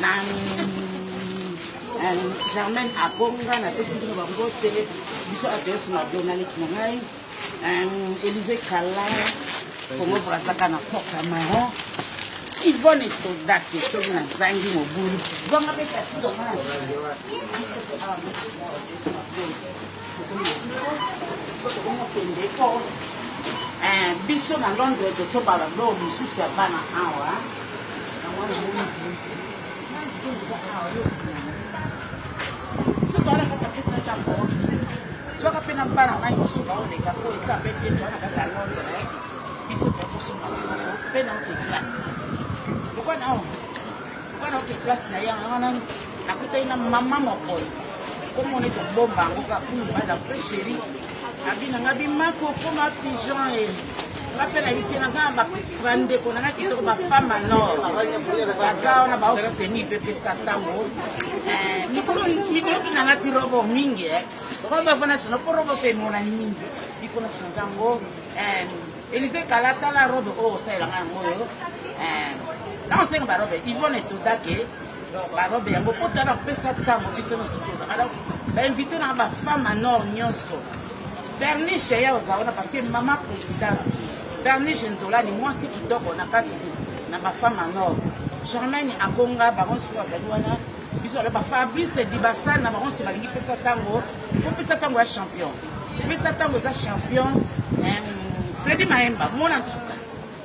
na germaine abonga napesi bino bambote biso adresse na donaleki na ngai elise kala kongo brazaka na porta maron ivone todake soki nazangi mobulu Eh, biso na londre tosoba bablo mosusu ya bana awa sotoala kati apesa ntango soka mpe na bana ngai mosusu baoleka mpo esa mpe te toa na kati ya londre eh. biso tokosoba mpe na ote classe lokola nao wana oke place na ye yango wana nakutani na mama mokonzi komoni tobomba yango kaka mobali ya fre sheri abina nga bimako okoma pigeon e nga mpe na bisi naza na bandeko nanga kitoko bafemme ya nord baza wana baosuteni mpe pesa ntango mikolo mpina nati robo mingi okomi bafo na chino mpo robo mpe emonani mingi ifo na chino yango Elise kala tala robe oyo osalela ngai yango oyo eh, naosenga barobe ivone etoda ke barobe yango mpo tala kopesa ntango biso nyonso tozaka donc bainvite na bafemme ya nord nyonso berniche ya oza wana parce que mama président berniche nzolani mwasi kitoko na kati na bafemme ya nord germaine akonga bango nyonso bazali wana biso wana ba fabrice dibasal na bango nso balingi pesa ntango kopesa ntango ya champion pesa ntango eza champion fredi mayemba mona nsuka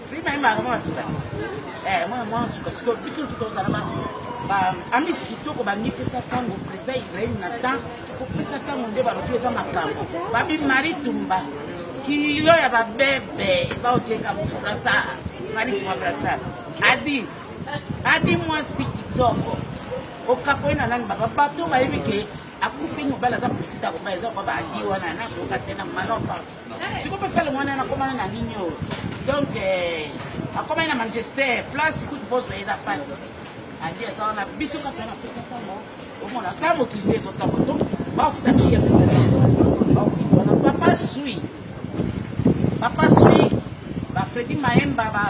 fredi mayemba yango mona nsuka eh, mona mona nsuka siko biso nsuka ozala ba amis kitoko balingi pesa ntango presa ibrahim na temps kopesa ntango nde balobi eza makambo babi mari tumba kilo ya babebe baotieka mokurasa mari tumba brasa adi Abi mwasi kitoko okapoi na nani baba bato bayebi ke akufi mobali aza presida kobala eza kwa baali wana nakoka te na malopa siko basala mwana nakomana na nini oyo donc eh, akomani na manchester place kutu bozwa ye na pasi ali aza wana biso kaka na pesa ntango omona kaka mokili nde ezotambo donc bafuta tiya pesa wana papa sui papa sui ba fredi maemba ba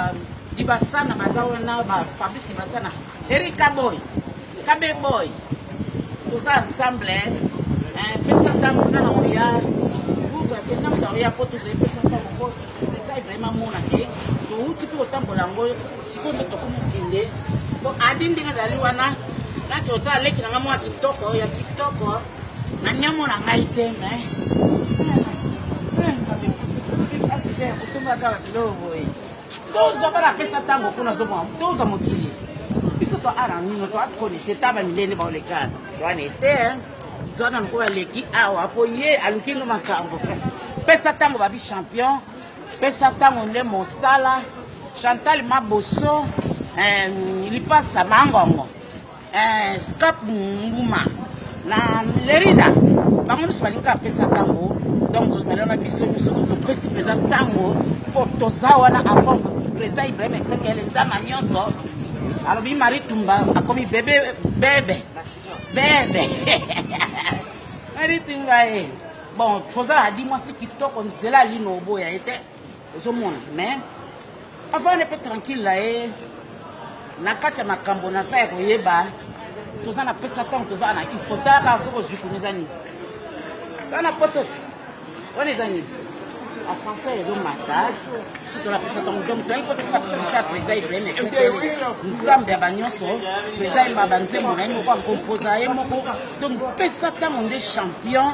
libasana baza wana ba fabrice libasana erika boy kabe boy toza ensemble pesa ntango na na oya buka te ntango na oya mpo tozali pesa ntango mpo ezali vraimen mona te touti mpe kotambola yango sikoyo nde tokomokende mpo adi ndenge azali wana nati ota aleki na ngai mwa kitoko ya kitoko Nani amona ngai te mais tozwa bana apesa ntango kuna azomwa tozwa mokili biso to ara nino to atikoni te ta bamilende baolekana wana ete zwa na mokolo aleki awa mpo ye aluki ngo makambo pesa ntango babi champion pesa ntango nde mosala chantal maboso eh, lipasa mangongo eh, scap nguma na lerida bango nyonso balingi kaka pesa ntango donc tozali wana biso nyonso topesi mpenza ntango mpo toza wana avant président ibrahim ekekele nzama nyonso alobi marie tumba akomi bebe bebe bebe marie tumba ye eh. bon tozalaka di mwasi kitoko nzela alino oboya ye te ozomona mais avanda mpe tranquille na ye na kati ya makambo naza ya koyeba toza na pesa ntango toza na info talaka soki ozwi kuna eza nini wana poto wana eza nini ascenseur ezomata biso tolapesa ntango donc toyaki kotisa publicité ya président ibrahim ekete nzambe ya banyonso président yemba banzembo na ye moko akompoza ye moko donc pesa ntango nde champion